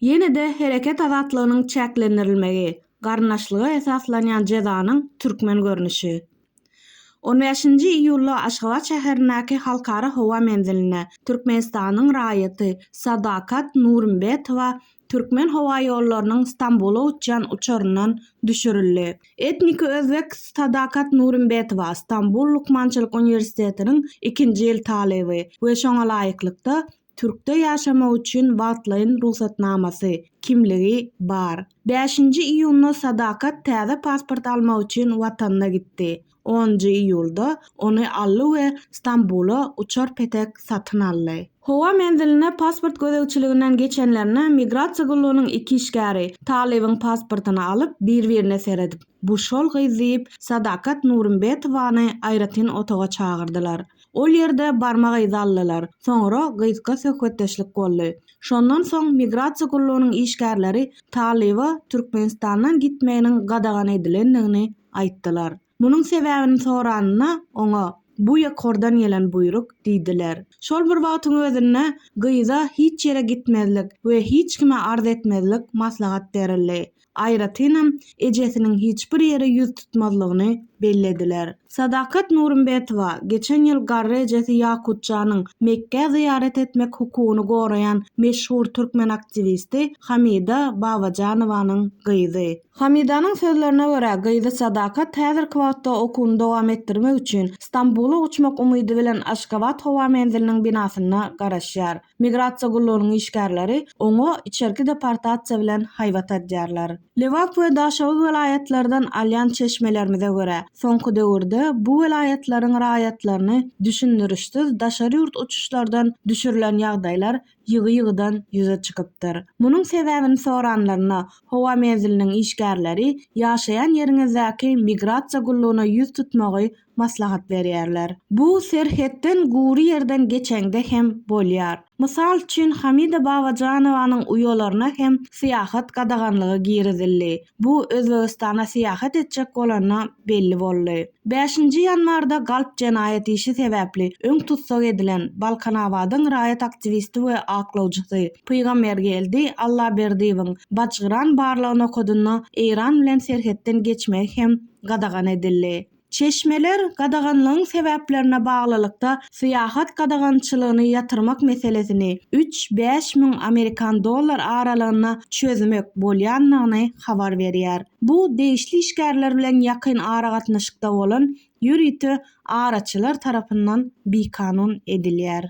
Ýene-de hereket azatlygynyň çäklendirilmegi, garyndaşlyga esaslanýan jezanyň türkmen görnüşi. On bäşinji iýulda Aşgabat şäherindäki Halkara howa menzilinde Türkmenistanyň raýaty Sadakat Nurimbetowa Türkmenhowaýollarynyň Stambula uçýan uçaryndan düşürildi. Etniki özbek Sadakat Nurimbetowa, Stambul lukmançylyk uniwersitetiniň ikinji ýyl talyby we şoňa laýyklykda, Türkde ýaşamak üçin wagtlaýyn rugsatnamasy, kimligi, bar. Bäşinji iýunda Sadakat täze pasport almak üçin watanyna gitdi. Onunjy iýulda ony aldy we Stambula uçar petek satyn aldy. Howa menziline pasport gözegçiliginden geçenlerine migrasiýa gullugynyň iki işgäri talybyň pasportyny alyp, bir-birine seredip, Bu şol gyz diýip, Sadakat Nurumbetowany aýratyn otaga çagyrdylar. Ol ýerde barmak yzy aldylar, soňra gysga söhbetdeşlik boldy. Şondan soň migrasiýa gullugynyň işgärleri talyba Türkmenistandan gitmeginiň gadagan edilendigini aýtdylar. Munuň sebäbini soranyna, oňa, Bu ýokardan gelen buýruk diýdiler. Şol bir wagtyň özünde gyza hiç ýere gitmezlik we hiç kime arz etmezlik maslahat berildi. Aýratynam, ejesiniň hiç bir ýere ýüz tutmazlygyny bellediler. Sadakat Nurumbetowa geçen ýyl garry ejesi Ýakutjanyň Mekgä zyýarat etmek hukugyny goraýan meşhur türkmen aktiwisti Hamida Babajanowanyň gyzy. Hamidanyň sözlerine görä, gyzy Sadakat häzirki wagtda okuwyny dowam etdirmek üçin Stambula uçmak umydy bilen Aşgabat howa menziliniň binasynda garaşýar. Migrasiýa gullugynyň işgärleri oňa içerki deportasiýa bilen haýbat adýarlar. Lebap we Daşoguz welaýatlardan alýan çeşmelerimize görä, soňky döwürde bu welaýatlaryň raýatlaryny düşündirişsiz daşary ýurt uçuşlardan düşürilen ýagdaýlar ýygy-ýygydan ýüze çykypdyr. Munuň sebäbini soranlarynda, howa menziliniň işgärleri ýaşaýan ýeriňizdäki migrasiýa gullugyna ýüz tutmagy maslahat berýärler. Bu serhetden gury ýerden geçeňde hem bolýar. Mysal üçin, Hamida Babajanowanyň uýalaryna hem syýahat gadaganlygy girizildi. Bu Özbegistana syýahat etjek bolanda belli boldy. Bäşinji ýanwarda galp jenaýat işi sebäpli öň tussag edilen Balkanabadyň raýat aktiwisti we aklawjysy Pygambergeldi Allaberdiýewiň Bajgyran barlag nokadynda Eýran bilen serhetden geçmegi hem gadagan edildi. Çeşmeler gadaganlygyň sebäplerine baglylykda syýahat gadagançylygyny ýatyrmak meselesini üç, bäş müň amerikan dollar aralygynda çözmek bolýandygyny habar berýär. Bu degişli işgärler bilen ýakyn aragatnaşykda bolan ýörite araçylar tarapyndan bikanun edilýär.